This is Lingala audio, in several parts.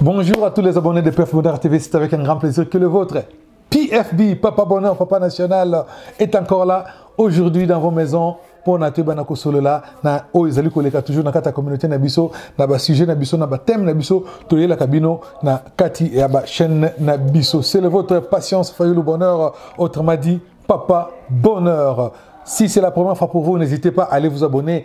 Bonjour à tous les abonnés de PF Bonheur TV, c'est avec un grand plaisir que le vôtre. PFB, Papa Bonheur, Papa National, est encore là aujourd'hui dans vos maisons pour na toyeba na kosolola na oyo ezali koleka toujours na kati communauté na biso na ba sujet na biso na ba thème na biso toyela kabino na kati ya ba chaîne na biso c'est le votre patience le bonheur autrement dit papa bonheur si c'est la première fois pour vous n'hésitez pas à aller vous abonner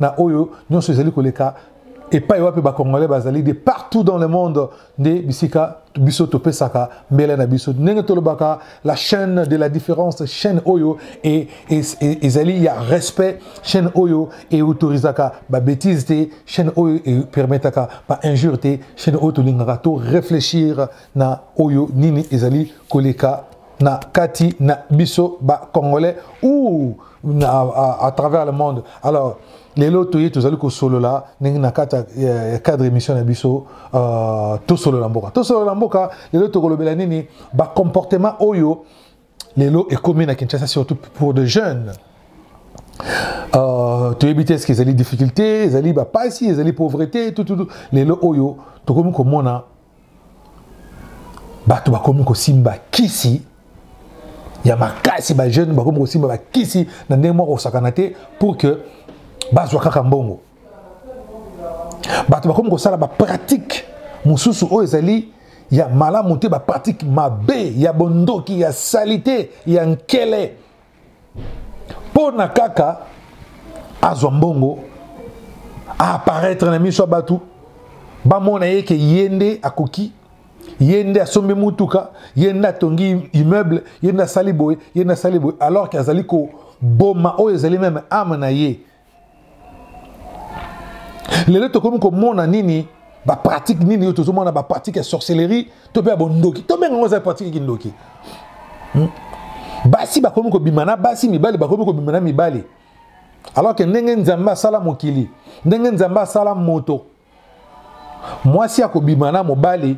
na oyo nyonso ezali koleka epai wapi bakongolais bazali de partout dans le monde nde bisika biso topesaka mbele na biso ndenge tolobaka la chaîne de la différence chaîne oyo e, e, e, ezali ya respect chaîne oyo eautorisaka babétise te chaîne oyo epermetaka bainjure te chaîne oyo tolingaka to réfléchir na oyo nini ezali koleka na kati na biso ba congolais ou à, à, à travers le monde alors lelo toye tozali kosolola ndenge na kati ya cadre émission na biso uh, tosolola mboka tosolola mboka lelo tokolobela nini bacomportement oyo lelo ekomi na kinshasa surtout pour de jeunes uh, toyebi te eske ezali difficulté ezali bapasi ezali pauvreté tututu lelo oyo tokomi komona bato bakomi kosimba kisi ya makasi bajeune bakomi kosimba bakisi na ndenge moko kosakana te pour que bazwa kaka mbongo bato bakomi kosala bapratike mosusu oyo ezali ya malamu te bapratike mabe ya bondoki ya salite ya nkele mpo na kaka azwa mbongo aaparaitre na miso ya bato bamona ye ke ye nde akoki ye nde asombi motuka ye nde atongi immeuble ye nde asali boye ye nde asali boye alors ke azali koboma oyo ezali meme ame na ye lelo tokomi komona nini bapratique nini oyo tozomona bapratique ya sorcellerie to mpe ya bondoki tobenga yango eza pratique kindoki hmm? basi bakomi kobima na basi mibali bakomi kobima na mibali alors ke ndenge nzambe asala mokili ndenge nzambe asala moto mwasi akobima na mobali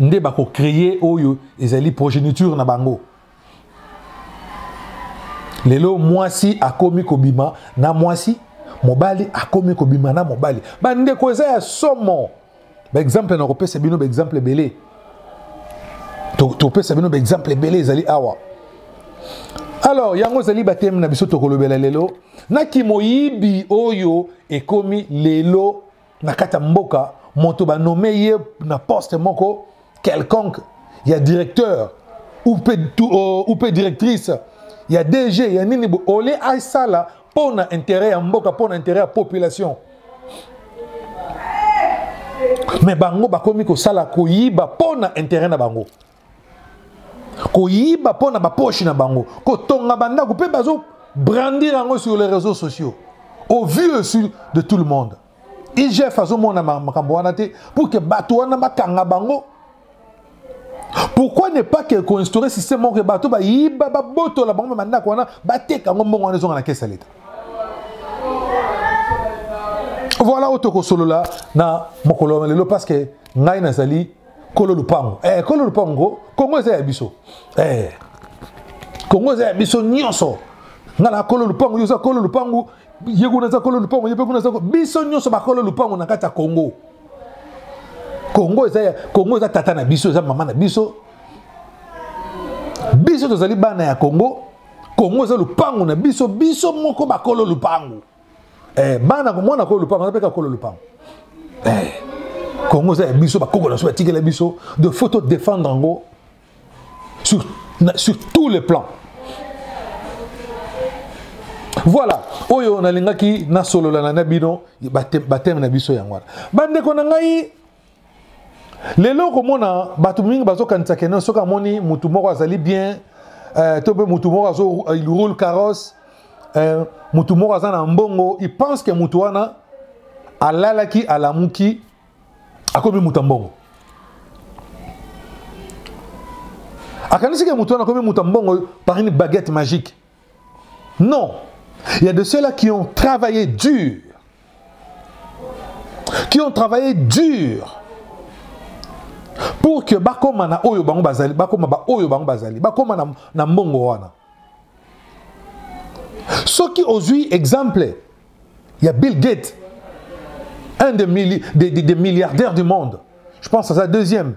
nde bakocreye oyo ezali progéniture na bango lelo mwasi akomi kobima na mwasi mobali akomi kobima na mobali bandeko eza ya somo baexemple nakopesa bino baexemple ebele topesa bino baexemple ebele ezali awa alors yango ezali bateme na biso tokolobela lelo na kimoyibi oyo ekomi lelo na kati ya mboka moto banome ye na poste moko quelconque ya directeur ou mpe euh, directrice ya dg ya nini ole asala mpo na intérêt ya mboka mpo na intérêt ya population me bango bakomi kosala koyiba mpo na intérêt na bango koyiba mpo na baposhi na bango kotonga bandako mpe bazo brandir yango sur les réseaux sociaux au vu aussi de tout le monde igf azomona makambo wana te pour ke bato wana bakanga bango pourquoi ne pas ke koinstaure système moko ke bato bayiba babotola bango ba bandako wana bateka yango mbongo wana ezonga na kesi ya leta voilà oyo tokosolola na mokolo ya lelo parce que ngai nazali kolo lupango eh, kolo lupango kongo eza ya biso eh, kongo eza ya biso nyonso nga na kolo lupango yo oza kolo lupango ye kuna aza kolo lupango ye mpe kuna aza biso nyonso bakolo lupango na kati ya kongo kongo eza ya kongo eza tata na biso eza mama na biso biso tozali bana ya kongo kongo eza lupango na biso biso moko bakolo lupango eh, bana komwana kolo lupango aza mpe kakolo lupango eh, kongo eza ya biso bakoko na biso batikela biso de faut todefendre yango sur, sur tous les plans voilà oyo nalingaki nasolola na bino bateme na biso yango wana bandeko na ngai lelo okomona bato mingi bazokanisa keno soki amoni motu moko azali bien eh, to mpe motu moko azo eh, il roule carrosse eh, motu moko aza na mbongo il pense ke motu wana alalaki alamuki akomi moto ya mbongo akanisi ke motu wana akomi moto ya mbongo par une baguette magique Non, il y a de ceux-là qui ont travaillé dur, qui ont travaillé dur pour que bakoma na oyo bango bazali, bakoma ba oyo bango bazali, bakoma na, na mbongo wana. Soki ozui exemple, il y a Bill Gates, un des, milli, des, des, des milliardaires du monde. Je pense à sa deuxième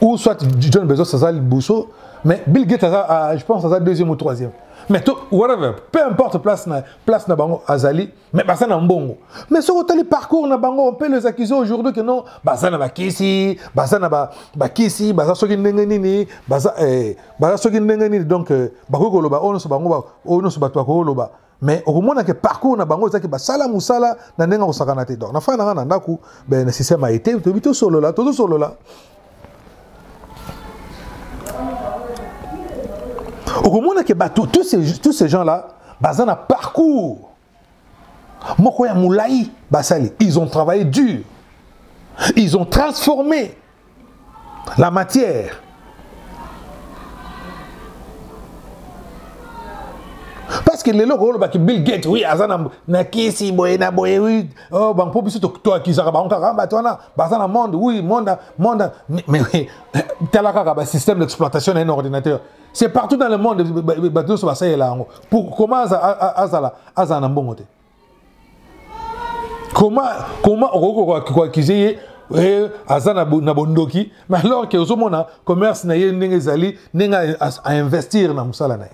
ou soit John Bezos aza liboso mais Bill Gates aza ah, je pense aza deuxième ou troisième mais to whatever peu importe place na place na bango azali mais baza na mbongo mais soki otali parcours na bango mpe les accusés aujourd'hui que non baza na bakisi baza na bakisi baza soki ndenge nini baza eh, baza soki ndenge nini donc euh, bakoki koloba oyo nyonso bango oyo nyonso bato bakoki koloba mais okomona ke parcours na bango ezaki basala mosala na ndenge ya kosakana te donc nafanda nanga na ndako ben, na système ya ete toyebi tosolola tozosolola okomona ke bato tous ces, tous ces gens là baza na parcours moko ya molai basali ils ont travaillé dur ils ont transformé la matière parce que lelo kolobaki bill gate oui aza na kisi boye na boye oui oh, bango mpo biso toakisaka bango kaka bato wana baza na monde oui monde monde mais tala kaka basystème d'exploitation na un ordinateur c'est partout dans le monde bato nyonso basalela yango pour comment azala azala na mbongo te koma koma okoki koakize ye eh, aza na bondoki mais alors ke ozomona commerce na ye ndenge ezali ndenge ainvestir na mosala na ye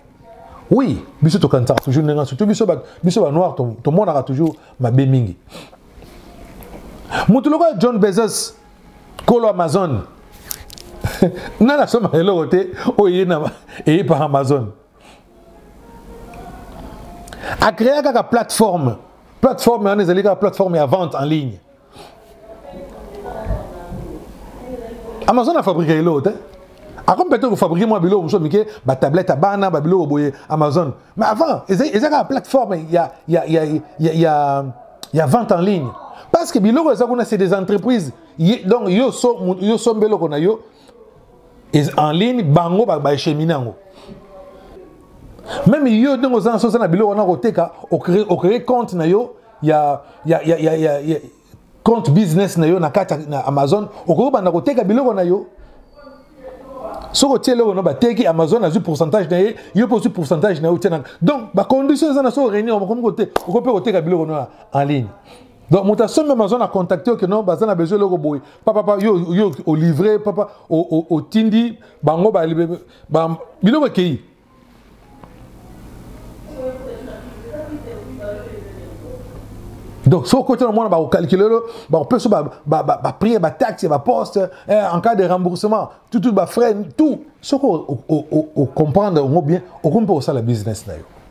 oui biso tokanisaka toujours ndenge nyonso to biso biso banoir tomonaka toujours mabe mingi moto lokola john bezos kolo amazon nani asomaka eloko te oyo eye par amazon acréa kaka plateforme plateforme wana ezali kaka plateforme ya vente en ligne amazon afabrika eloo te akomi peut-être kofabrike mwa biloko mosusu mike batablette ya bana babiloko boye amazon mais avant eza kaka plateforme ya, ya, ya, ya, ya, ya vente en ligne parce que biloko eza kuna c'est des entreprises donc yo sombeloko na yo en ligne bango baechemine yango meme yo ndenge oza na sosa na biloko wana koteka ocree compte na yo ya, ya, ya, ya, ya, ya compte business na yo na kati na amazon okoki banda koteka biloko na yo soki otie eloko na bateki amazon azwi pourcentage na ye yo mpe ozwi pourcentage na yo otie na donc bacondition eza na soki réunion okomi kote okoki mpe koteka biloko na en ligne donc moto asombi ya mazwa na contacte oke no baza na besoin eloko boye papapa yo, yo olivre papa otindi bango biloko ekei donc soki okoti na mwana bakokalkile yo bakopesa bapriere bataxe baposte eh, en cas de remboursement tutu bafrai tout soki ocomprendre yango bien okomi mpe kosala business na yo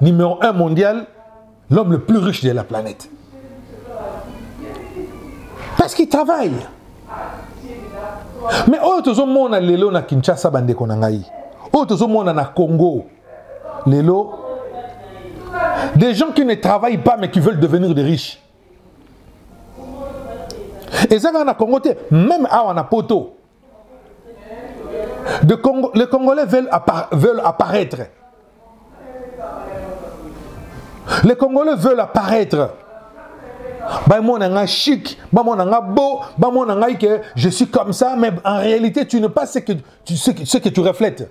Numéro 1 mondial, l'homme le plus riche de la planète. Parce qu'il travaille. Mais oyo tozomona lelo na Kinshasa bandeko na ngai. Oyo tozomona na Congo. Lelo des gens qui ne travaillent pas mais qui veulent devenir des riches. Et ça, on a Congo, même à on a poteau. De Congo, les Congolais veulent, appara veulent apparaître. Les Congolais veulent apparaître. bamona nga chic bamona nga beau bamona ngai que je suis comme ça mais en réalité tu ne pas ce que tu, ce que, ce que tu reflètes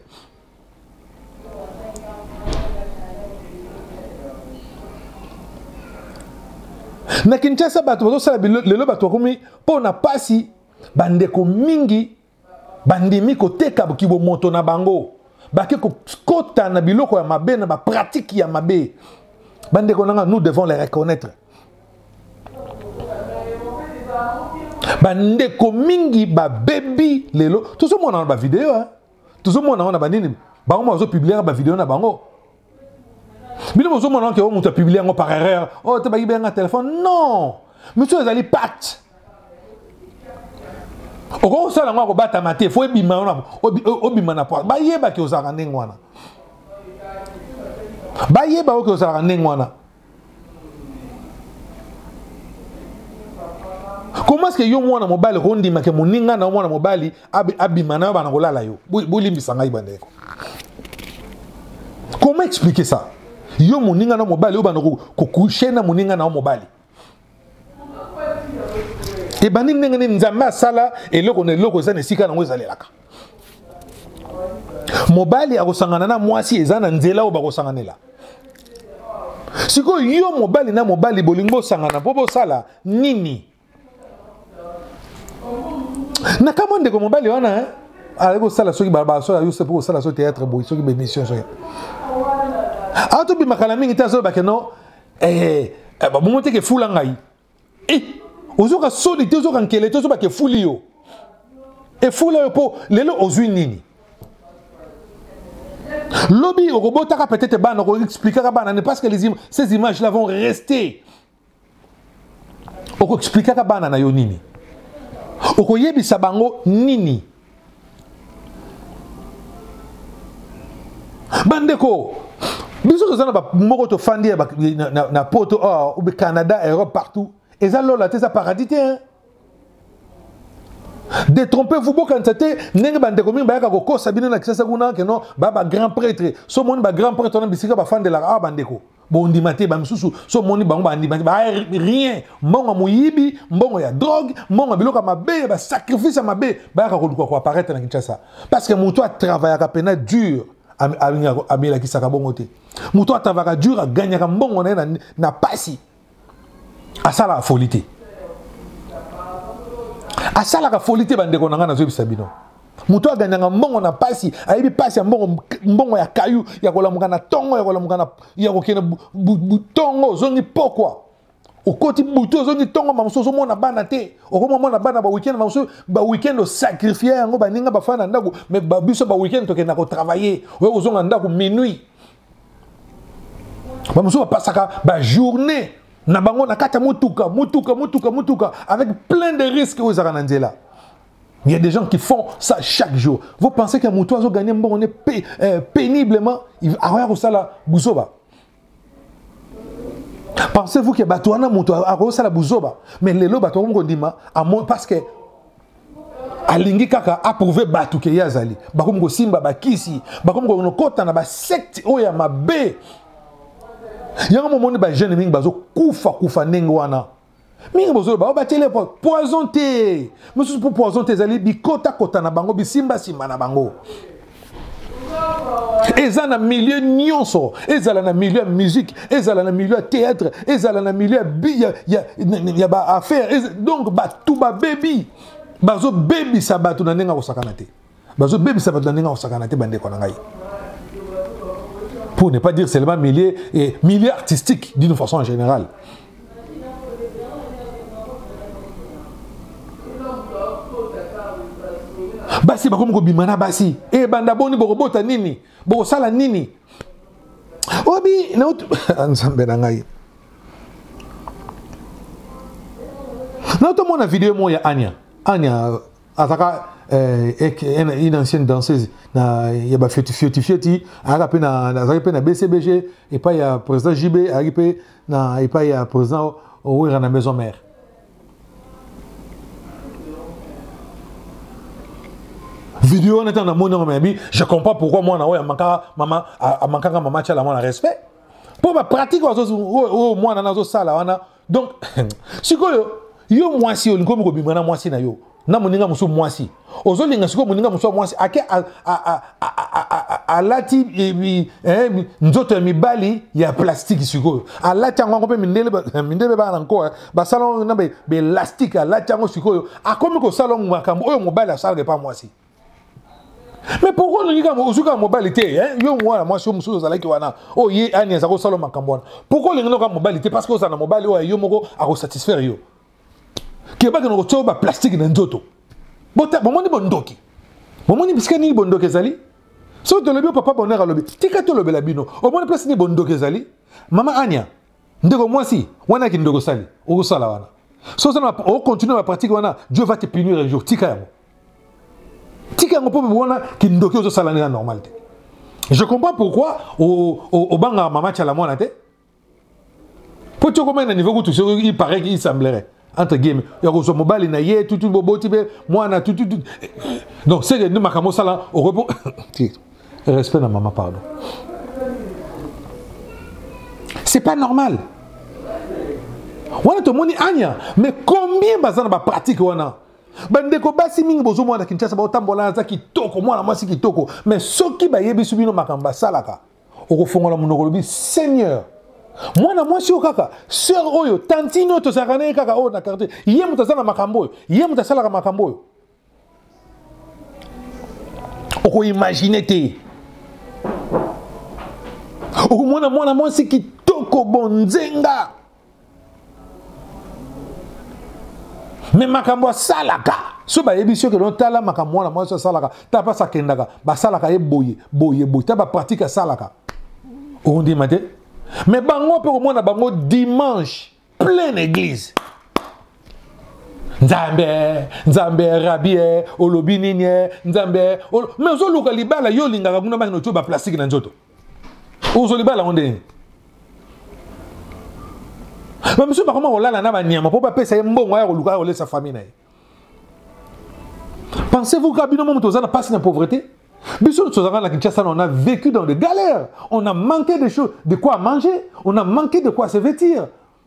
na kinshasa bato bazosala lelo bato bakomi mpo na mpasi bandeko mingi bandimi koteka kibomoto na bango bake kokota na biloko ya mabe na bapratike ya mabe bandeko nanga nous devons les reconnaître bandeko mingi babebi lelo tozomonana bavideo tozomona wana banini bango bazopubliaka bavideo na bango bino bozomona wana ke o moto apublie yango par erreur o oh, te bayiba yanga telefone non misu ezali pacte okoki kosala yango akobatama te fo ebima yo obima na poise bayebaki ozalaka ndenge wana bayeba oke ozalaka ndenge wana comment est-ce que yo mwana mobali okondima ke moninga na yo mwana mobali abima na yo bana kolala yo bolimbisa ngai bandeko comment expliquer ça yo moninga na mobali oyo bana kokushe na moninga na yo mobali ebandi ndenge nini nzambe asala eloko na eloko eza na esika yango ezalelaka mobali akosangana na mwasi eza na nzela oyo bakosanganela sikoyo yo mobali na mobali bolingi bosangana mpo bosala nini na kamwa ndeko mobali wana eh? azali kosala soki balabala soki ayuse mpo kosala so théâtre boyi soki bémission soki awa tobimaka na mingi te azolobake no eh, eh, babongo te kefula ngai eh, ozoka soni te ozoka nkele te ozoba kefuli yo efula yo mpo lelo ozwi nini lobi okobotaka peut-être bana okoexplikaka bana ne parce que les im ces images là vont rester okoexplikaka bana na yo nini okoyebisa bango nini bandeko biso toza na moko tofandi na, na, na poto or oh, canada europe partout eza lola te eza paradis te hein? détrompez vous bokanisa te ndenge bandeko mingi bayaka kokosa bino na kisasa kuna keno ba bagrand prêtre so omoni bagrand prêtre wana bisika bafandelaka awa ah, bandeko bondima te bamisusu so omoni bango bandima te ba rien mbongo ya moyibi mbongo ya drogue mbongo ya biloko ya mabe ya basacrifice ya mabe bayaka koluka koaparaitre na kinshasa parce que moto atravayaka mpena dur amelakisaka bongo te moto atravaka dur aganyaka mbongo na ye na pasi asalaka foli te asalaka foli te bandeko na ngai nazoyebisa bino moto oyo aganyaka mbongo na mpasi ayebi mpasi ya mbongo mbongo ya kayu ya kolamuka na ntongo ya kolamuka na ya kokende ntongo ozongi pokwa okoti butu ozongi ntongo mamosu ozomona bana te okomomona bana baweekend mamosu baweekend osakrifie yango baninga bafanda na ndako me biso baweekend tokenda kotravaille oyo kozonga ndako minuit bamosusu bapasaka bajournée na bango na kati ya motuka motuka motuka motuka avec plein de risques oyo ezalaka na nzela Il y a des gens qui font ça chaque jour. Vous pensez qu'un mouton a gagné bon, on est pé, euh, péniblement, il a rien ça la bouzoba. Pensez-vous que Batouana mouton a ça la bouzoba. Mais les lots Batouana Mokondima, parce que alingi kaka approuve bato ke ye azali bakomi kosimba bakisi bakomi kokota na basekte oyo ya mabe yango momoni bajeune mingi bazokufa kufa ndenge wana mingi bozolo bango batiele poison te mosusu mpo poison te ezali bikotakota na bango bisimbasimba na bango eza na milieu nyonso ezala na milieu ya musique ezala na milieu ya théâtre ezala na milieu ya bi ya, ya, ya baaffaire donc bato babebi bazobebisa bato na ndenge ya kosakana te bazobebisa bato na ndenge ya kosakana te bandeko na ngai pour ne pas dire seulement milieu, eh, milieu artistique d'une façon générale basi bakomi kobima na basi e banda boni bokobota nini bokosala nini obi ah, nzambe na ngai naotomona video moko ya ania ania azaka eh, une ancienne danseuse na ya bafioti fioti fioti azalaki mpe na bcbg epai ya président jb azalaki mpe na epai ya président owera na maison mère video wana ntango namoni yango mayabi je comprends pourquoi mwana oyo amankaka mama amankaka mama atyala mwana respect mpo bapratique oyo mwana na azosala wana donc sikoyo yo mwasi olingi omi kobima na mwasi na yo na moninga mosusu mwasi ozolinga sikoyo moninga mosusu ya mwasi ake alati eh, nzoto ya mibali ya plastiki sikoyo alati yango yango mpe mindele baa na nkoa basala yango na belastike alati yango sikoyo akomi kosala yango makambo oyo mobali asalaka epa mwasi mais pourkoi olingi kaka ozwi kaka mobali te eh? yo mwana mwasi yo mosusu ozalaki wana oyo oh, ye ani aza kosala makambo wana pourkoi olingi noka mobali te parce que ozala na mobali oyo yo moko akosatisfaire yo kebaka na kotya ba plastique na nzoto bomoni bondoki bomoni bisika nini bondoki ezali soki tolobi papa bonheur alobi tika tolobela bino omoni place nini bondoki ezali mama ania ndeko mwasi wana ya kindoko osali okosala wana so oza ocontinue na bapratique wana dieu va te punir un jour tika yango tika yango mpo wana kindoki ozosala nde na normal te je comprends pourquoi obangaka mama cala mwana te mpo ti okomaki na niveau kutu soki il paraît qu'il semblerait entre guillemets ya kozwa mobali na ye tutu boboti mpe mwana tutu donc seke nde makambo osala okopo respect na mama pardon c'est pas normal wana tomoni anya mais combien baza na bapratique wana bandeko basi mingi bozomona na kinshasa baotambola aza kitoko mwana mwasi kitoko mais soki bayebisi bino makambo basalaka okofongola monoko olobi seigneur mwana mwasi oyo kaka sœur oyo tantine oyo tozalaka na ye kaka oyo na quartier ye moto aza na makambo oyo ye moto asalaka makambo oyo okoimagine te okomona mwana mwasi kitoko bonzenga me makambo asalaka so bayebisi yo keno tala makambo mwana mwasi asalaka ta mpasi akendaka basalaka ye boye boye boye ta bapratike asalaka okondima te me bango mpe komona bango dimanche plein église nzambe nzambe rabie olobi nini nzambe me ozoluka libala yo olingaka kuna bangi notio baplastike na nzoto ozoli bala ngo ndenge bamisusu bakoma kolala na banyama mpo bapesa ye mbongo aya koluka aya kolesa famille na ye pensez-vous ka bino momo toza na mpasi na pauvreté biso nyonso tozalaka na kinshasa on a vécu dans des galères on a manqué des choses de quoi manger on a manqué de quoi se vêtir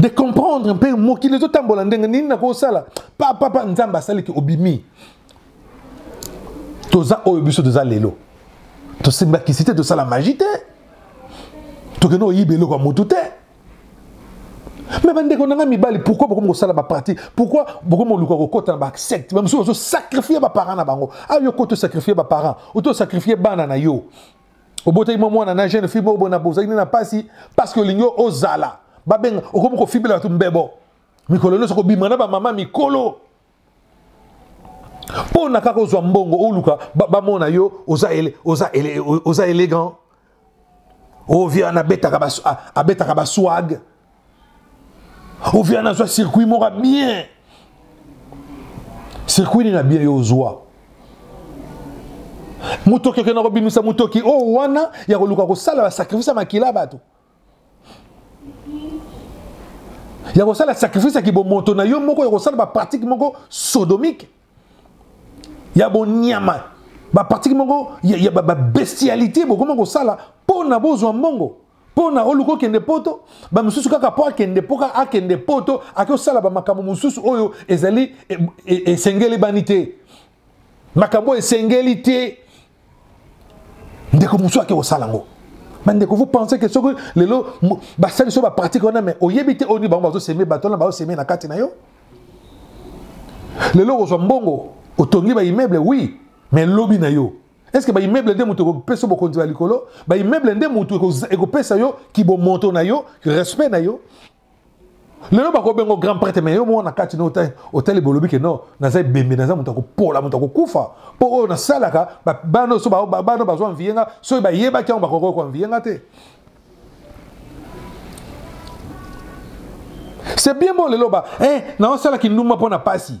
de comprendre mpe mokili ezotambola ndenge nini nakosala papapa nzambe asaliki obimi toza oyo biso toza lelo tosimbakisi te tosala magi te tokende oyiba eloko ya motu te me bandeko na ngai mibali pourkui bokomi kosala baparti pourkui bokomi koluka kokota na basecte bamosusu bazosakrifie baparent na bango ayo koti osakrifie baparent oto osakrifie bana na yo obotaki mwa mwana na jeune fille moko bona bozalaki nde na mpasi parce que olingi ozala babenga okomi kofibela bato mbebo mikolo nyonso kobima na bamama mikolo mpo na kaka ozwa mbongo oluka bamona yo oza, ele, oza, ele, oza élégant ovia oh, abetaka baswag ovia nazwa circuit moko ya bien circuit nini ya bien yo ozwa motoki okenda kobimisa motoki oyo oh, wana ya koluka kosala basakrifise ya makila ya bato ya kosala sakrifise ya kibomoto na yo moko ya kosala bapratike moko sodomike ya bonyama bapratike moko ya babestialité bokoma kosala mpo na bozwa mbongo mpo na oluka okende poto bamosusu kaka mpo akende mpo kaka akende poto ake osala bamakambo mosusu oyo ezali e, e, esengeli bani te makambo oyo esengeli te ndeko mosusu ake kosala yango bandeko vous pensez que soki lelo basali so bapratique wana mai oyebi te oyo nini bango bazoseme bato wana bazoseme na kati na yo lelo okozwa mbongo otongi baimmeuble oui mais lobi na yo est ce que baimmeuble nde moto ekopesa bokonzi ya likolo baimmeuble nde moto ekopesa yo kibomoto na yo respect na yo lelo bakobengo grand prêtre mais yo moko na kati no otali bolobi ke no naza ebembe naza moto akopola moto akokufa mpo oyo nasalaka bana so bana bazwa mviye nga soki bayebaki yango bakokoki koanviye nga te c'est bien bo lelo ba eh, naosalaki ndumba mpo na mpasi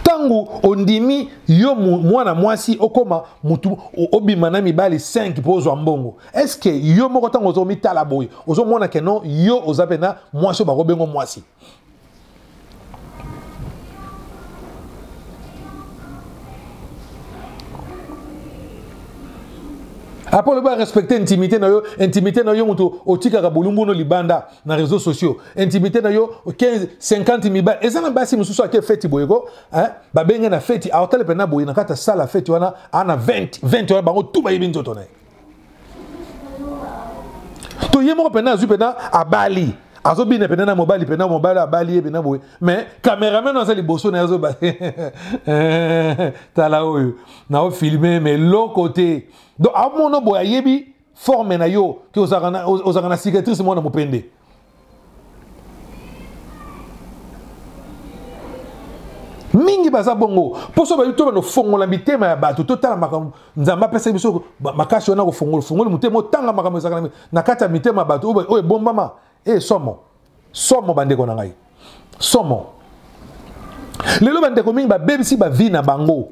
ntango ondimi yo mwana mwasi okoma mutu obima na mibali 5 mpo ozwa mbongo estce yo moko ntango ozo omitala boye ozomona ke non yo oza mpena mwasi oyo bakobengo mwasi apres olobi arespecte intimité na yo intimité na yo moto otikaka bolumbu no libanda na réseaux sociaux intimité na yo 15 50 mibali eza na basi mosusu ake feti boye ko hein? babenge na feti aotale mpena boye na kati ya sala feti wana ana 20 20 wana bango tu bayebi nzoto na ye to ye moko mpena azwi mpena abali azobina mpena na mobali mpena mobali abali ye mpena boye mais cameraman aza liboso na ye azoba tala oyo naofilme mais loko te donc amono boye ayebi forme na yo ke ozalaka na cicatrice mwana mopende mingi baza bongo mposo bayebi to banofongola mitema ya bato totala makambo nzambe apesaki biso makasi wana kofongola fongoli motema otanga makambo ezalaka na kati ya mitema ya bato oyo ebombama e eh, somo somo bandeko na ngai somo lelo bandeko mingi babebisi bavi na bango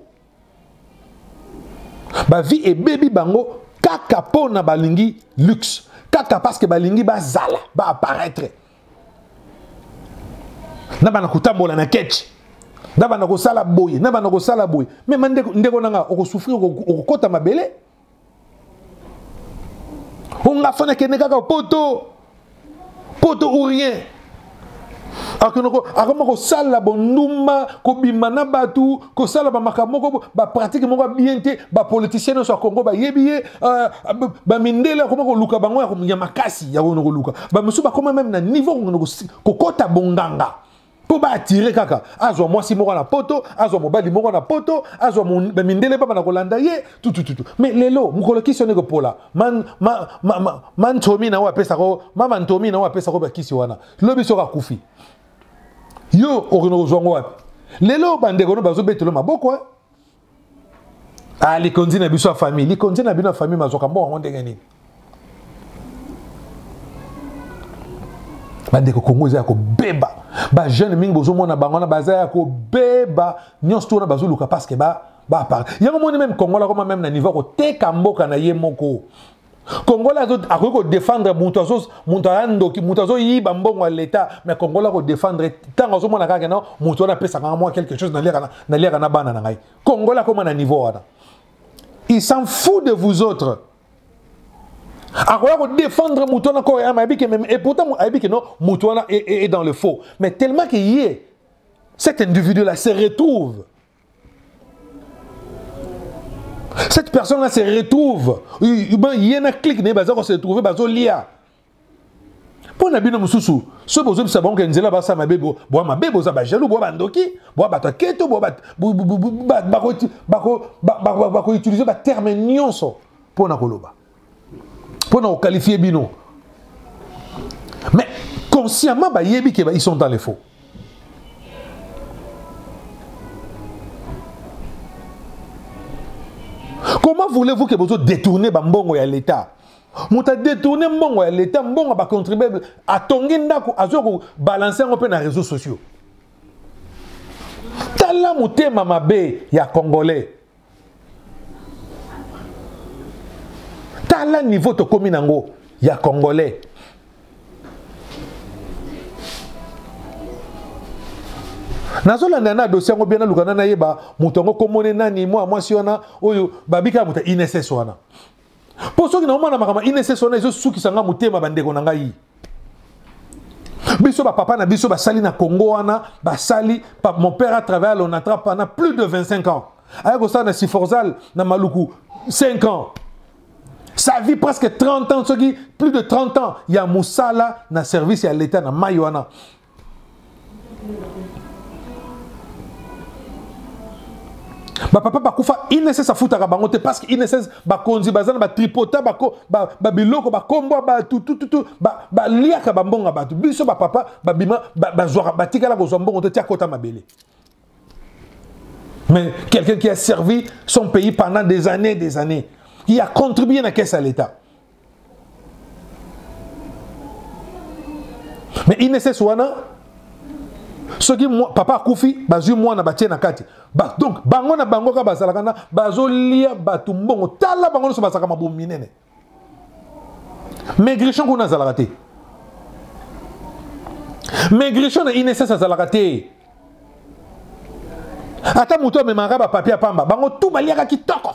ba vie ebebi bango kaka mpo na balingi luxe kaka parce que balingi bazala ba apparaître na bana kotambola na ketch na bana kosala boye na bana kosala boye me ndeko na nga okosouffrir okokota mabele onga fana akende kaka poto poto ou rien akoma kosala bondumba kobima na bato kosala bamakambo moko bapratike moko bien te bapoliticien nyonso ya congo bayebi ye euh, bamindele akoma koluka bango ya makasi ya kokende koluka bamosusu bakoma meme na niveau kokota bonganga mpo baatire kaka azwa mwasi moko na poto azwa mobali moko na poto azwa mindele baba na kolanda ye tutututu mais lelo mokolo kisi wana ekopola mantomi na oyo apesako mama ntomi na oyo apesako bakisi wana lobi soki akufi yo okende kozwa ngo wapi lelo bandeko no bazobetelo maboko eh? ah, likonzi na biso ya famille likonzi na bino ya famille mazwaka mbongo yango ndenge nini bandeko kongo eza ya kobeba bajeune mingi bozomona bango wana baza ya kobeba nyonso to wana bazoluka parceke ba bapara yango moni meme kongola koma meme na niveau ya koteka mboka na ye moko congolais akoki kodefendre moto moto aya ndoki moto azoyiba mbongo ya leta mais congolais akodefendre ntango azomona kaka na moto wana apesaka nga mwa quelque chose naliaka na bana na ngai congolais akoma na niveau wana il s'en fou de vous autres akoya kodefendre moto wana kore ama ayebi ke meme et pourtant ayebi ke non moto wana est dans le faux mais tellement ke ye cet individu là se retrouve cette personne là se retrouve ye na clique na ye baza kose retrouve bazolia mpo na bino mosusu soki bozobisa bango ke nzela basa mabe boa mabe boza bajaloux boa bandoki boa bato ya keto bakoutilize baterme nyonso mpo na koloba mpo na kokalifie bino mais consciemment bayebi ke ils sont dans les faux comment voulez-vous que bozo détourner bambongo ya l'état moto adetourne mbongo ya leta mbongo ya bacontribuable atongi ndako azwa kobalanse yango mpe na réseau sociaux tala motema mabe ya congolais tala niveau tokomi nango ya congolais nazolanda na dosie yango bia nalukana nayeba moto yango komone nani mwa mwasi wana oyo babika moto inss wana mpo soki naomona makambo ya inss wana ezosukisa ngai motema bandeko na ngai biso bapapa na biso basali na congo wana basali mon père a travaille à lonatra pendant plus de 25 ans aya kosala na siforzal na maluku 5 ans sa vie presque 30 ans soki plus de 30 ans ya mosala na service ya leta na mai wana bapapa bakufa inss afutaka bango te parce que inss bakonzi baza na batripota babiloko bakombwa bato tututu baliaka bambongo ya bato biso bapapa babima bazwaka batikala kozwa mbongo te ti akota mabele mais quelqu'un qui a servi son pays pendant des années des années il a contribué na caisse à l'état mais inss wana soki papa akufi bazwi mwana batie na kati ba, donc bango na bango kaka bazalaka na bazolia bato mbongo tala bango nyonso bazalaka mabomi minene maigrichon kuna azalaka te maigrichon na inss azalaka te ata moto amemaka bapapie ya pamba bango tu baliaka kitoko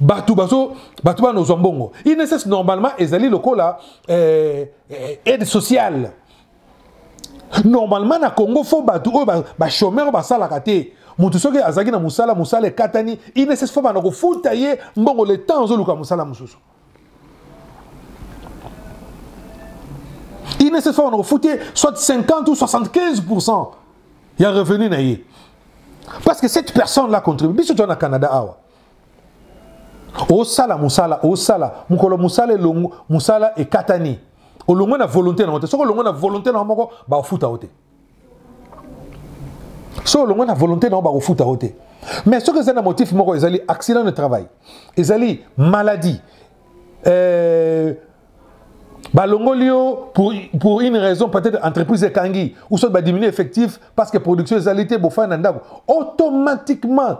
bato bazo bato bana ozwa mbongo inss normalement ezali lokola eh, eh, aide sociale normalement na congo fo bato oyo bachomeur ba basalaka te moto soki azalaki na mosala mosala ekatani inss fo bana kofuta ye mbongo le temps azoluka mosala mosusu INSS on refouté soit 50 ou 75% il y a revenu na ye. Parce que cette personne là contribue biso au Canada awa. Osala musala osala mukolo musala elongo musala ekatani. Olongo na volonté na wote. Soko olongo na volonté na moko ba ofuta wote. so olongwe na volonté na yo bakofuta yo te mais soki ezali na motif moko ezali accident de travail ezali maladie euh, balongoli yo pour, pour une raison peut-être entreprise ekangi ou soit badiminue effectif parce que production ezali te bofai na ndako automatiquement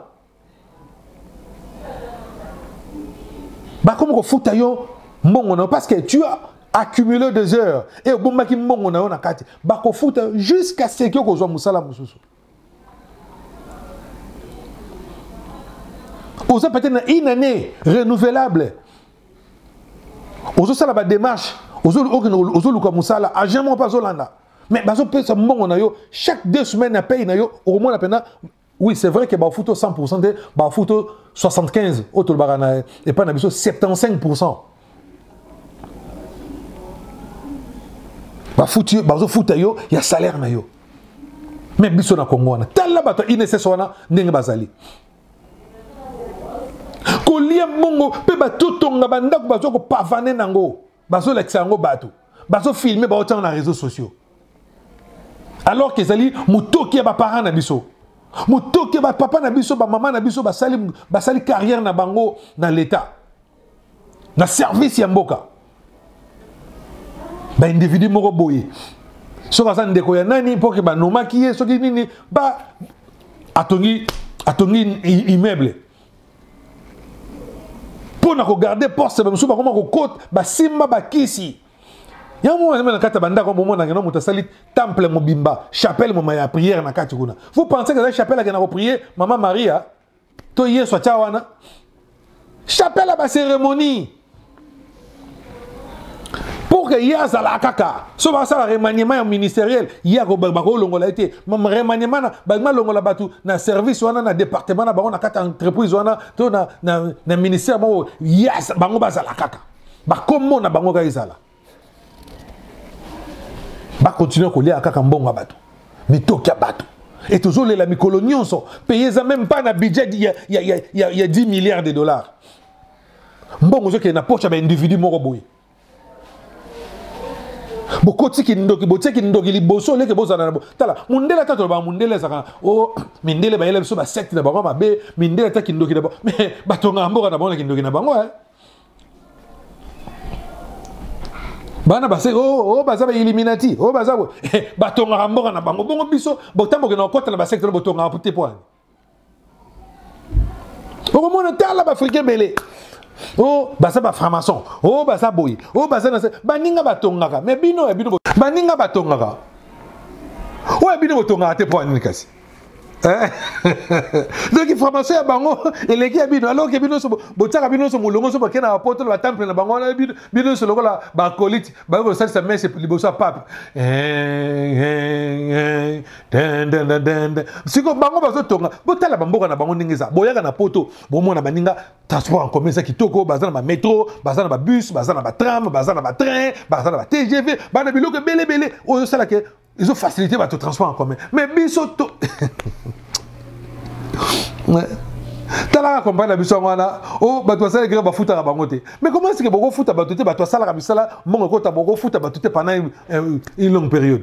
bakomi kofuta yo mbongo na yo parce que tu as accumulé des heures et obombaki mbongo na yo na kati bakofuta yo jusqu'à ce que okozwa mosala mosusu oza peut-être na une année renouvelable ozosala badémarche ozoluka mosala agent moko mpe azolanda mais bazopesa mbongo na yo chaque deux semaines ya paye na yo okomona mpena oui c'est vrai que bafuti o 100 te bafuti o 75 oyo tolobaka na epai na biso 75 bafuti bazofuta yo ya salaire na yo me biso na kongo wana tala bato ya inss wana ndenge bazali kolia mbongo mpe batotonga bandako baza kopavane nango bazolakisa yango bato bazofilme baotiango na réseau sociaux alors que ezali motoki ya baparent na biso motoki ya bapapa na biso bamama na biso basali, basali carrière na bango na leta na service ya mboka baindividu moko boye soki aza ndeko ya nani mpo ke banomaki ye soki nini ba atongi atongi immeuble mpo na kogarde poste bamosusu bakoma kokota basimba bakisi yango wana na kati ya bandako bomonaka no moto asali temple mobimba chapelle moma ya prière na kati kuna vous pensez que ezali chapelle akenda koprie mama maria to yesu atya wana chapelle ya bacérémonie pour que ye azala kaka so basala remaniement ya ministériel ye bakolongola ye te remaniement na balingi balongola bato na service wana na département na bango na kati ya entreprise wana to na, na, na ministère moko ye bango bazala kaka bakombo na bango kaka ezala bakontinue kolia kaka mbongo ya bato mitoki ya bato e tozolela mikolo nyonso peye eza meme pas na budget ya, ya, ya, ya, ya 10 milliards de dollars mbongo ezokende na poche ya baindividu moko boye bokoti kindoki botie kindoki liboso oleke bozala na tala mondele ata tolobaka mondele ezalaka o oh, mindele bayela biso basecte na bango mabe mindele ata kindoki na bango mais batongaka mboka na bango na kindoki na bango eh. bana base o oh, oh, baza bailluminati o baza batongaka mboka na bango bongo biso botamboke na kokota na basecte na botongaka te po okomona tala baafrika ebele o oh, baza baframason o oh, baza boye o oh, baza na se baninga batongaka me bino ya bino baninga batongaka oyo bino botongaka te mpo ya nini kasi eh? donc formation ya bango eleki ya bino alors ke bino nyonso botyaka bino nyonso molongo nyonso bakei na bapoto na batemple na bango wana bino nyonso lokola bakolite bayoki kosalisa mese liboso ya pape eh, eh, siko bango bazotonga botala bamboka na bango ndenge eza boyaka na poto bomona baninga transport en commun eza kitoko baza na bametro baza na babus baza na batram baza na batrain baza na batgv baa na biloko ebele ebele oyo osala ke ezofacilite bato transport en commun mais biso to talaka kompani na biso yango wana o oh, bato basala ekeke bafutaka bango te mais comment sike bokofuta bato te bato asalaka misala mbongo ekota bokofuta bato te pendant une longue période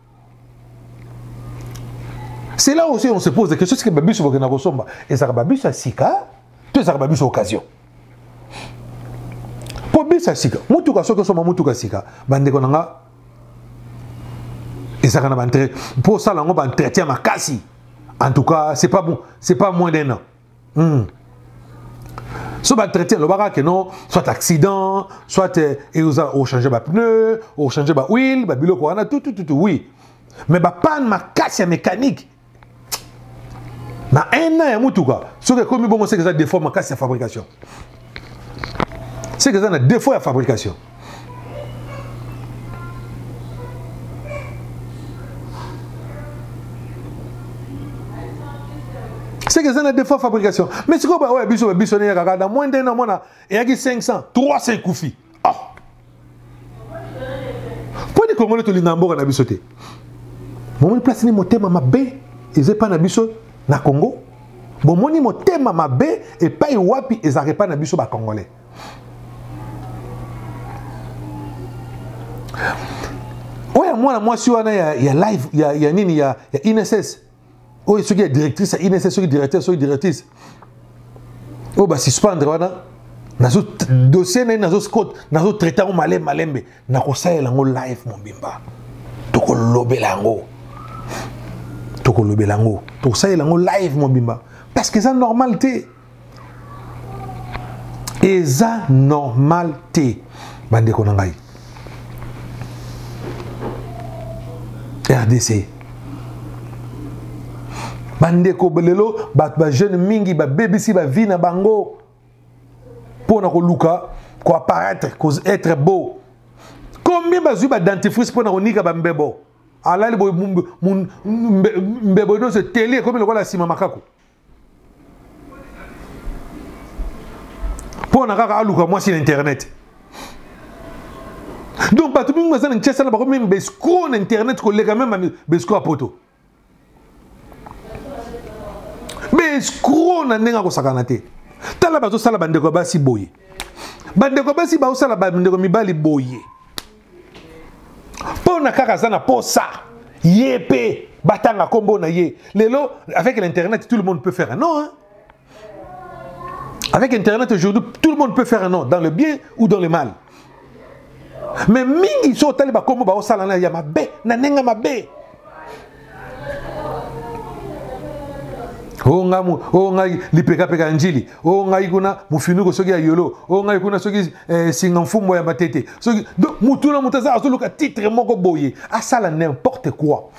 C'est là aussi on se pose des questions, c'est que babiso bokena kosomba, ezaka babiso ya sika, to ezaka babiso occasion. Po biso ya sika, mutuka soki osomba mutuka sika, bandeko na nga ezaka na bantre, po sala ngo ba entretien makasi. En tout cas, c'est pas bon, c'est pas moins d'un an. Hmm. so batraite alobaka ke non soit accident soit eh, eoza ochange bapneu ochange bahuile babiloko wana tutututu oui mais bapane makasi ya mécanique na un an ya motuka soki ekomi bongo seke eza defaut makasi ya fabrication seke eza na defaut ya fabrication c'est que eza na defaut fabrication mais sikoyo baoyo ya biso babiso neyaka kaka na moins d'un amona eyaki 500 300 ekufi ah. mpo ni kongole tolinga mboka na biso te bomoni place ni motema mabe eza epai na biso na congo bomoni motema mabe epai wapi ezalaka epai na biso bacongolais oyo ya mwana mwasi wana ya, ya live ya, ya nini ya, ya inss oyo soki ya directrice ya inss soki directeur soki directrice oyo basuspendre wana nazo dossier na ye nazo scot nazo traite yango malembe malembe nakosalela yango live mobimba tokolobela yango tokolobela yango tokosalela yango live mobimba parce que eza normal te eza normal te bandeko na ngai rdc bandeko lelo bato bajeune mingi babebisi bavie na bango mpo na koluka koapparaître être beau combien bazwi badentifrice mpo na konika bambebo alali boye mbebo nyonso eteli ekomi lokola nsima makako mpo na kaka aluka mwasi na internet donc bato mingi baza na nchesa na bakomi meme bescro na internet koleka meme bescro ya poto bescro na ndenge akosakana te tala bazosala bandeko ya basi boye bandeko ya basi baosala bandeko mibali boye mpo na kaka aza na posa ye mpe batanga nkombo na ye lelo avec l'internet tout le monde peut faire un nom hein? avec internet aujourd'hui tout le monde peut faire un nom dans le bien ou dans le mal mais mingi so otali bakombo baosalana ya mabe na ndenge mabe o nga mu o nga lipeka peka njili o nga ikuna mufinuko soki ya yolo o nga ikuna soki eh, singa mfumbo ya matete soki donc mutu na mutu aza azoluka titre moko boye asala n'importe quoi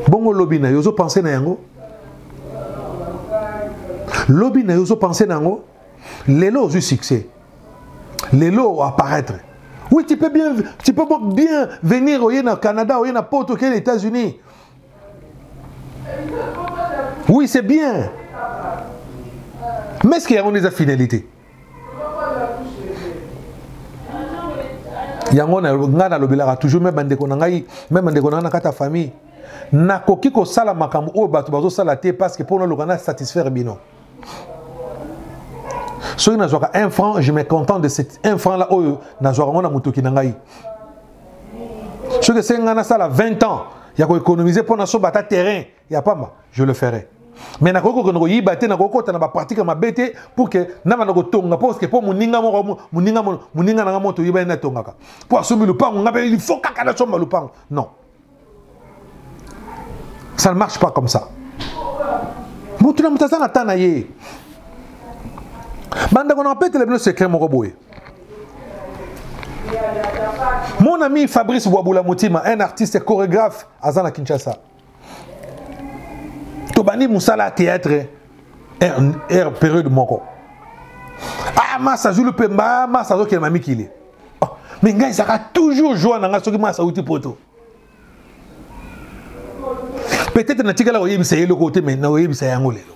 bongo lobi na yo ozopense na yango lobi na yo ozopense na yango lelo ozwi succès lelo apparaître oui tu peux bien tu peux bien venir oye na canada oye na poto oke na états-unis oui c'est bien mais ce que yango nde eza finalité yango ngai nalobelaka toujours me bandeko na ngai me bandeko na ngai na kati ya famille nakoki kosala makambo oyo bato bazosala te parce que mpo naloka na satisfaire bino soki nazwaka 1 franc je me content de cet 1 franc là oyo nazwaka yango na motoki na ngai soki esengi ngai nasala 20 ans ya koéconomise mpo nasoba ata terrain ya pamba je le ferai me nakoki kokende koyiba te nakoki kota na bapratike ya mabe te pour ke nabanda kotonga mpo parceke mpo moninga moko moninga na ngai moto oyeba ye natongaka mpo asombi lupango ngai mpe ilfo kaka nasomba lupango non ça ne marche pas comme ça motu na moto aza na temps na ye bandeko na bapetela bino secret moko boye mon ami fabrice bwabula motima un artiste chorégraphe aza na kinshasa tobandi mosala ya théâtre er période moko ah masa azwi lupemba masa azokende na mikili oh, me ngai ezalaka toujours joie na ngai soki mwasi auti poto peut-être natikala koyebisa ye eloko te me nakoyebisa yango lelo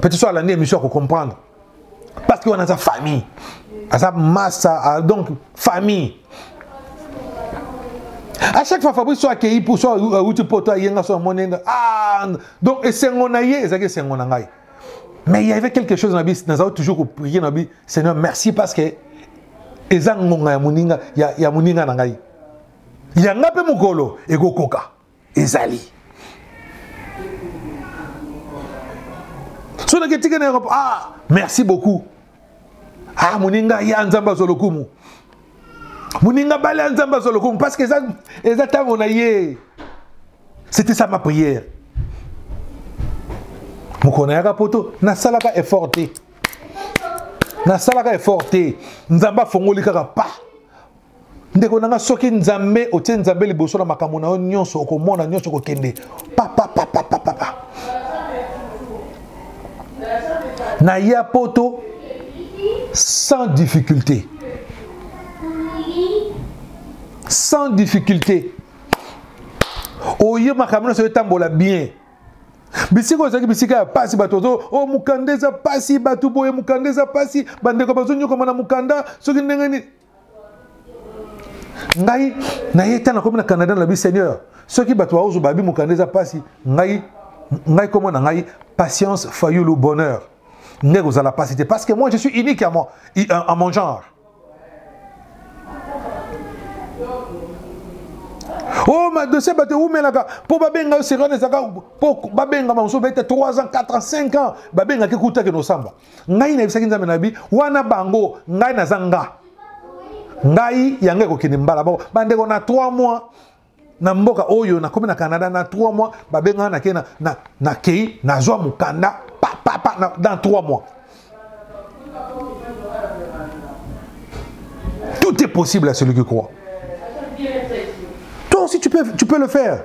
peut-être so alandi émission ya kocomprendre parce que wana aza famille aza masa ah, donc famille à chaque fois fabrice so akei mpo so auti poto ayenga so amoni ah donc esengo na ye ezalaki esengo na ngai Mais il y avait quelque chose dans la Bible, nous avons toujours prié dans la Bible, Seigneur, merci parce que eza ngonga ya moninga ya, ya moninga na ngai yanga mpe mokolo ekokoka ezali so naki etikana ah merci beaucoup ah moninga ya nzambe azwa lokumu moninga bale ya nzambe azwa lokumu parce que eza, eza ntango na ye c'était ça ma prière mokolo nayaka poto nasalaka effort te nasalaka effort te nzambe afongoli kaka pa ndeko na nga soki nzambe otie nzambe liboso na makambo na yo nyonso okomona nyonso kokende papapapapapa na ya poto sans difficulté sans difficulté oye makambo nyonso etambola bien bisika oyo ezalaki bisika ya mpasi bato ozo o oh, mokanda eza mpasi bato boye mokanda eza mpasi bandeko bazonyokama na mokanda soki ndenge nini ngai naye ntango nakomi na canada nalobi seigneur soki bato baozo babi mokanda eza mpasi ngai ngai nkombo na ngai patience fayulu bonheur nde ekozala mpasi te parce que moi je suis unique à mon, à mon genre o oh, madosie bato ewumelaka mpo babenga yo sirene ezaka mpo babengama mosusu bete 3 ans 4 ans 5 ans babengaki kutaki nosamba ngai nayebisaki nzambe na bi wana bango ngai naza nga ngai yango ekokende mbala moko bandeko na 3 mois na mboka oyo nakomi na canada na 3 mois babengaka nakei na, na, na kei nazwa mokanda papapa na, dans 3 mois tout est possible à celui qui croit toi aussi tu peux, tu peux le faire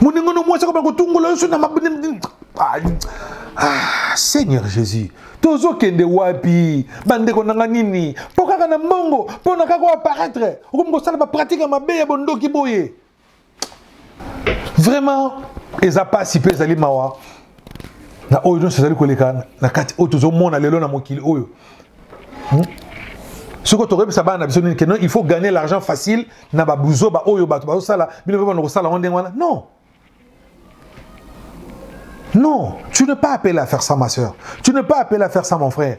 moninga no mwasi akoba kotungola yo so na ah, ah, seigneur jésus tozokende wapi bandeko nanga nini mpo kaka na mbongo mpo na kaka oaparaitre okomi kosala bapratike ya mabe ya bondoki boye vraiment eza mpasi mpe ezali mawa na oyo nyonso ezali koleka na kati oyo tozomona lelo na mokili oyo hmm? soki tokoyebisa bana na biso nini ke non il faut gagner l'argent facile na babuzoba oyo bato bazosala bino mpe bana kosala yango ndenge wana non non tu ne pas appelé à faire ça ma soeur tu ne pas appelé à faire ça mon frère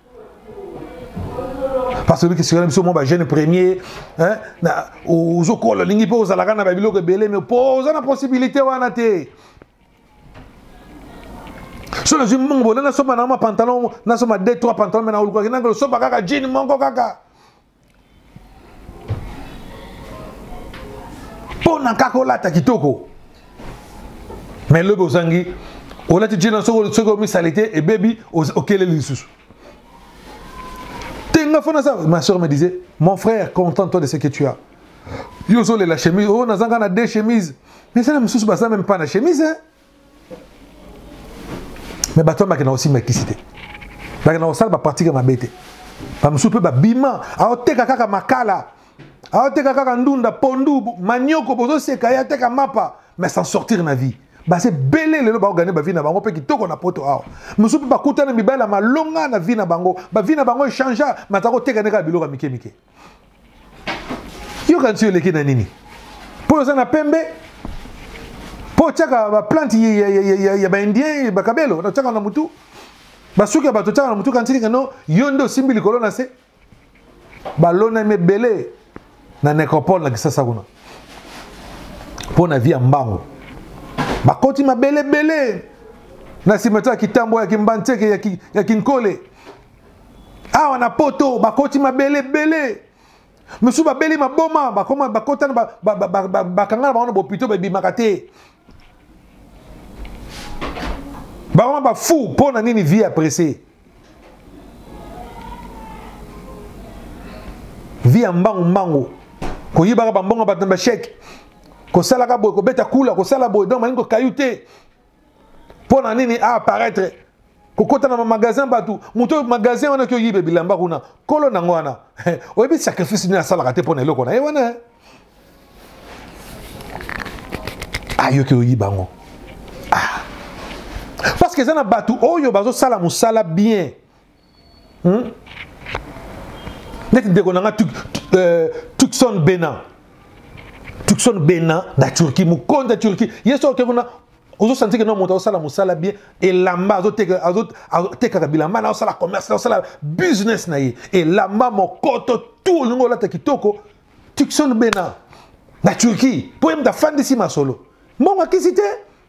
parce que sikana biso mwa bajeune premier ozokola olingi mpe ozalaka na babiloko ebele me mpo oza na possibilité wana te so nazwi mbongo bola nasomba nango mapantalon nasomba 2 3 pantalon me naolukaki nango losoba kaka jean moko kaka mpo na kaka olata kitoko me lobi ozangi olati jina soki omisali te ebebi okeleli lisusu te nga fona sa ma soeur me disait mon frère content toi de ce que tu as yo ozolela chemise oyo oh, nazanga na deux chemise mais eza na mosusu baza meme pas na chemise hein? me bato wana bakenda kosimba kisi te bakenda kosala bapratike mabe te bamosusu mpe babima aoteka kaka makala aoteka kaka ndunda pondu manioko bozoseka ye ateka mapa mais sans sortir na vie base bele lelo baogane bavi na bango mpe kitoko na poto awa mosusu mpe bakutana mibali ya malonga na vi na bango bavi na bango echangea mataka koteka nde kaka biloko ya mike mike yo kanisi yo oleki na nini mpo oza na pembe mpo otyaka baplante ya baindien bakabelo otyaka na motu basuki ya bato otyaka na motu kanisi kano yo nde osimbi likolo na se balonami ebele na necropole na kisasa kuna mpo na vi ya mbango bakoti mabele ebele na nsima to ya kitambo ya kimbantseke ya kinkole awa na poto bakoti mabele ebele mosusu babeli maboma bakoma bakotana bakanga na bango na bopito babimaka te bakoma bafou mpo na nini vie ya presse vie ya mbangu mbangu koyibaka bambongo bato na basheke kosalaka boye kobeta kula kosala boye donc malingi kokayu te mpo na nini a apparaître kokota na bamagasin bato moto oyo magasin wana ki oyibe bilamba kuna kolo nango wana oyebi sacrifice nini asalaka te mpo na eloko na ye wana ayoki oyiba yango ah. parce que eza na bato oyo bazosala mosala bien hmm? neti ndeko na nga euh, tucson bena tucson bena na turquie mokonzi ya turquie ye soki oke kuna ozosantike na moto azosala mosala bien elamba azotekaka bilamba na azosala commerce na azosala business na ye elamba mokoto tu olingi olata kitoko tucson bena na turquie mpo ye moto afandisi masolo mbongo akisi te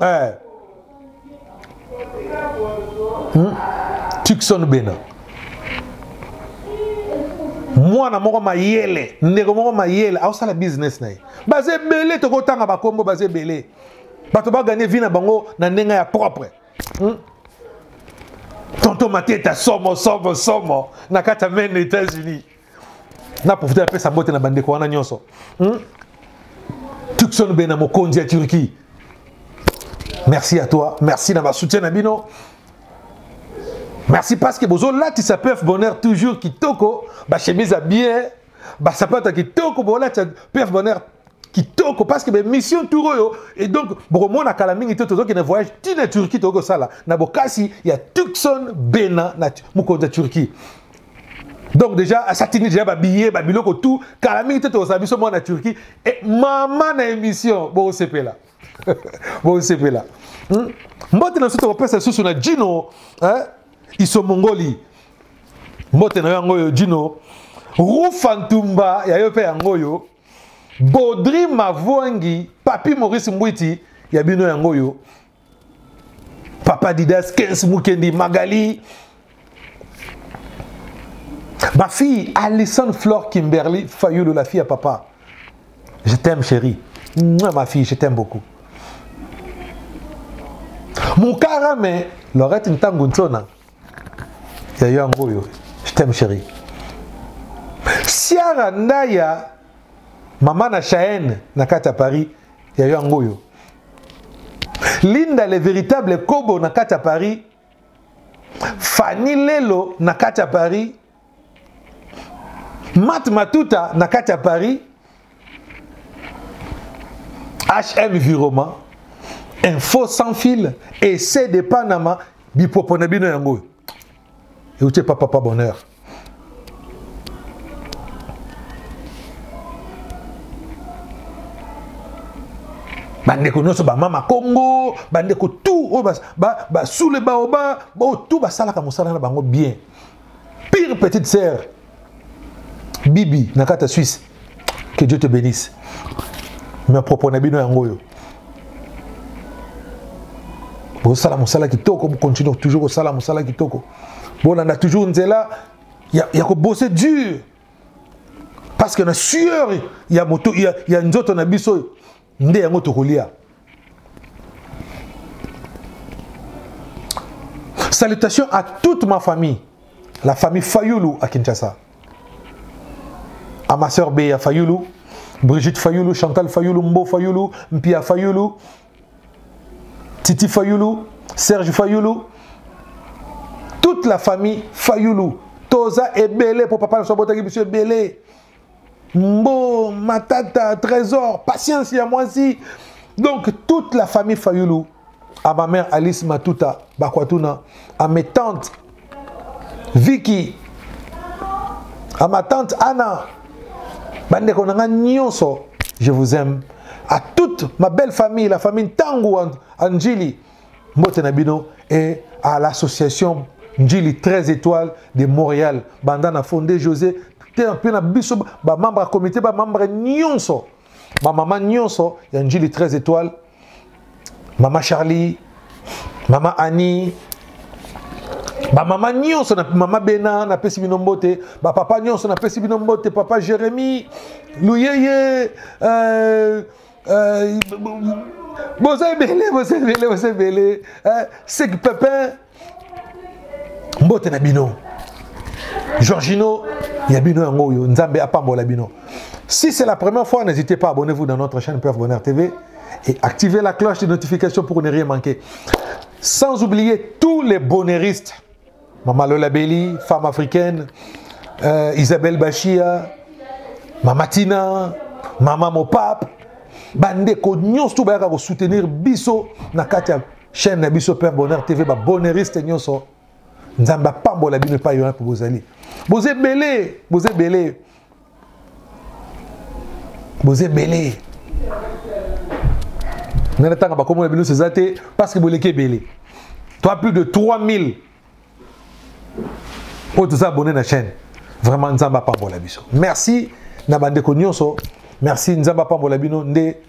eh. hmm? tikson bena mwana moko mayele ndeko moko mayele aosala business na ye baza ebele tokotanga bakombo baza ebele bato baganye vi na bango na ndenge ya propre hmm? tonto mateta somo somo somo na kati ya maine états-unis na profite napesa mbote na bandeko wana nyonso hmm? tukson be na mokonzi ya turquie merci à toi merci na basoutien na bino merci parce que bozolatisa pef bonheur toujours kitoko bachemise ya bien basapata kitoko bolatisa pef bonheur kitoko parce que bamission tour oyo et donc bokomona kala mingi te tozokende voyage ti na turquie tokoki kosala na bokasi ya tukson bena na mokonzi ya turquie donc déjà asatini déjà babillet babiloko tout kala mingi te tozala biso mwana turquie e mama na émission bosepela bosepela hmm? mbote na biso tokopesa lisusu na jino eh? iso mongoli mbote na yo yango oyo jino rufa ntumba ya yo mpe yango oyo bodri mavwangi papi maurice mbwiti ya bino yango oyo papa didas kens mukendi magali ma fille alison flore kimberly fayulu la fille à papa je t'aime chérie ma fille je t'aime beaucoup mokara me lorette ntango nsona ya yo yango oyo je t'aime chérie siara ndaya mama na chaene na kati ya paris ya yo yango oyo linda le véritable kobo na kati ya paris fani lelo na kati ya paris mat matuta na kati ya paris hm viroma info sans fil essai de panama bipopo na bino yango oyo euti epa papa bonheur bandeko nyonso bamama kongo bandeko tout oyo basule baoba baoyo tout basalaka mosala na bango bien pire petite sœur bibi na kati ya suisse que dieu te bénisse me propos na bino yango oyo bozosala mosala kitoko bocontinue toujours kosala mosala kitoko bolanda toujours nzela ya, ya kobose dur parce que na sueur ya, moto, ya, ya nzoto na biso oyo nde yango tokolia salutation à toute ma famille la famille fayulu à kinshasa à ma soeur beya fayulu brigitte fayulu chantal fayulu mbo fayulu mpia fayulu titi fayulu serge fayulu toute la famille fayulu toza ebele mpo papa na biso abotaki biso ebele Mbo, Matata, Trésor, Patience ya mwasi. Donc toute la famille Fayulu, à ma mère Alice Matuta Bakwatuna, à mes tantes Vicky, à ma tante Anna, bande konanga nyonso, je vous aime. À toute ma belle famille, la famille Tangu Anjili, mbote na bino et à l'association njili 13 étoiles de montréal banda na fonde josé mpe na biso bamembre ya comité bamembre nyonso bamama nyonso ya njili 13 étoiles mama charlie mama annie bamama nyonso na mama bena napesi bino mbote bapapa nyonso napesi bino mbote papa jérémi luyeye euh, Euh, boza ebele boza ebele boza ebele euh, sek pepin mbote na bino georgino ya bino yango oyo nzambe apambola bino si c'est la première fois n'hésitez pas abonnez-vous dans notre chaîne pef bonheur tv et activez la cloche de notification pour ne rien manquer sans oublier tous les bonheuristes Mama Lola Beli, femme africaine, euh, Isabelle Bashia, Mama Tina, Mama Mopap, bandeko nyonso to bayaka kosoutenir biso na kati ya chaîne na biso Père Bonheur TV, ba bonheuriste nyonso. Nzambe apambola bino epai wana mpo bozali. Boza ebele, boza ebele. boza ebele ngai natanga bakombo na bino nyonso eza te parce que boleki ebele toi plus de 3000 oyo toza abonne na chaîne vraiment nzambe apambola biso merci na bandeko nyonso merci nzambe apambola bino nde